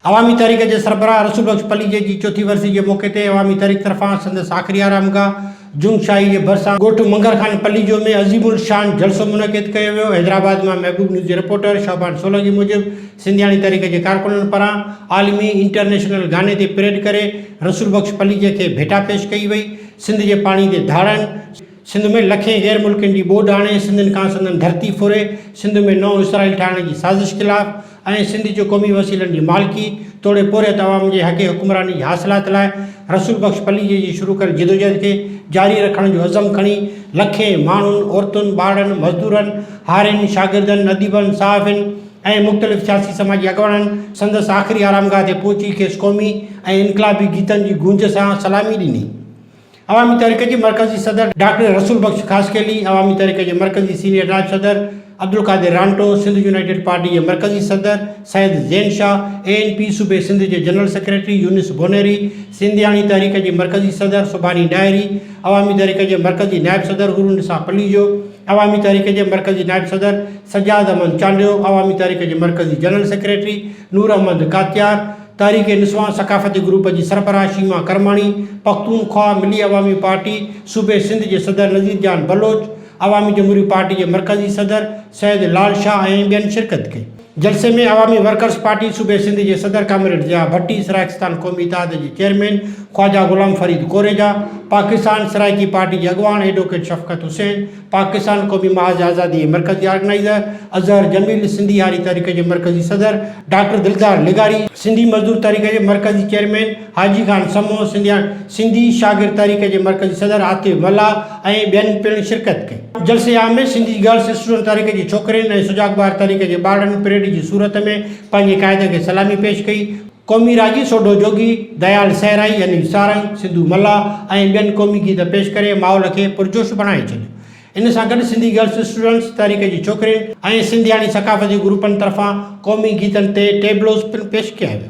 عوامي تحريڪ جي سربراهه رسول بخش پليجي جي چوٿين ورسي جي موقعي تي عوامي تحريڪ طرفان سندس آخري آرام گاهه جنگ شاهي جي ڀرسان ڳوٺ منگر خان پليجو ۾ عظيم الشان جلسو منعقد ڪيو ويو. حيدرآباد مان محبوب نيوز جي رپورٽر شعبان سولنگي موجب سنڌياڻي تحريڪ جي ڪارڪنن پران عالمي انٽرنيشنل گاني تي پريڊ ڪري رسول بخش پليجي کي ڀيٽا پيش ڪئي وئي. سنڌ جي پاڻي تي ڌاڙن، سنڌ ۾ لکين غير ملڪين جي ٻوڏ آڻي سنڌين کان سندن ڌرتي ڦري سنڌ ۾ نئون اسرائيل ٺاهڻ جي سازش خلاف ۽ سنڌ جو قومي وسيلن جي مالڪي توڙي پورهيت عوام جي حق حڪمراني جي حاصلات لاء رسول بخش پليجي جي شروع ڪيل جدوجهد کي جاري رکڻ جو عزم کڻي لکين ماڻهن عورتن ٻارڙن مزدورن هارين شاگردن اديبن صحافين ۽ مختلف سياسي سماجي اڳواڻن سندس آخري آرامگاهه تي پهچي کيس قومي ۽ انقلابي گيتن جي گونج سان سلامي ڏني. عوامي تحريڪ جي مرڪزي صدر ڊاڪٽر رسول بخش خاصخيلي، عوامي تحريڪ جي مرڪزي سينيئر نائب صدر عبدالقادر رانٽو، سنڌ يونائيٽيڊ پارٽي جي مرڪزي صدر Syed Zain Shah, A N P صوبي سنڌ جي جنرل سيڪريٽري يونس بونيري، سنڌياڻي تحريڪ جي مرڪزي صدر سڀاني ڏاهري، عوامي تحريڪ جي مرڪزي نائب صدر حور النساء پليجو، عوامي تحريڪ جي مرڪزي نائب صدر سجاد احمد چانڊيو، عوامي تحريڪ جي مرڪزي جنرل سيڪريٽري نور احمد ڪاتيار، تحريڪ نسوان ثقافتي گروپ جي سربراهه شيما ڪرماڻي، پختونخواهه ملي عوامي پارٽي صوبي سنڌ جي صدر نذير جان بلوچ، عوامي جمهوري پارٽي جي مرڪزي صدر سيد لال شاهه ۽ ٻين شرڪت ڪئي. جلسي ۾ عوامي ورڪرز پارٽي صوبي سنڌ جي صدر ڪامريڊ ضياء ڀٽي، سرائيڪستان قومي اتحاد جي چيئرمين خواجا غلام فريد ڪوريجا، پاڪستان سرائيڪي پارٽي جي اڳواڻ ايڊووڪيٽ شفقت حسين، پاڪستان قومي محاذ آزادي جي مرڪزي آرگنائيزر اظهر جميل، سنڌي هاري تحريڪ جي مرڪزي صدر ڊاڪٽر دلدار لغاري، سنڌي مزدور تحريڪ جي مرڪزي چيئرمين حاجي خان سمو، سنڌي شاگرد تحريڪ جي مرڪزي صدر عاطف ملاح ۽ ٻين پڻ شرڪت ڪئي. جلسي عام ۾ سنڌي گرلس اسٽوڊنٽ تحريڪ جي ڇوڪرين ۽ سجاڳ ٻار تحريڪ جي ٻارڙن پريڊ جي صورت ۾ پنهنجي قائد کي سلامي پيش ڪئي. قومي راڄي سوڍو جوڳي ديال صحرائي يعني سارنگ، سنڌو ملاح ۽ ٻين قومي گيت پيش ڪري ماحول کي پرجوش بڻائي ڇڏيو. ان سان گڏ سنڌي گرلس اسٽوڊنٽس تحريڪ جي ڇوڪرين ۽ سنڌياڻي ثقافتي گروپن طرفان قومي گيتن تي ٽيبلوز پڻ پيش ڪيا ويا.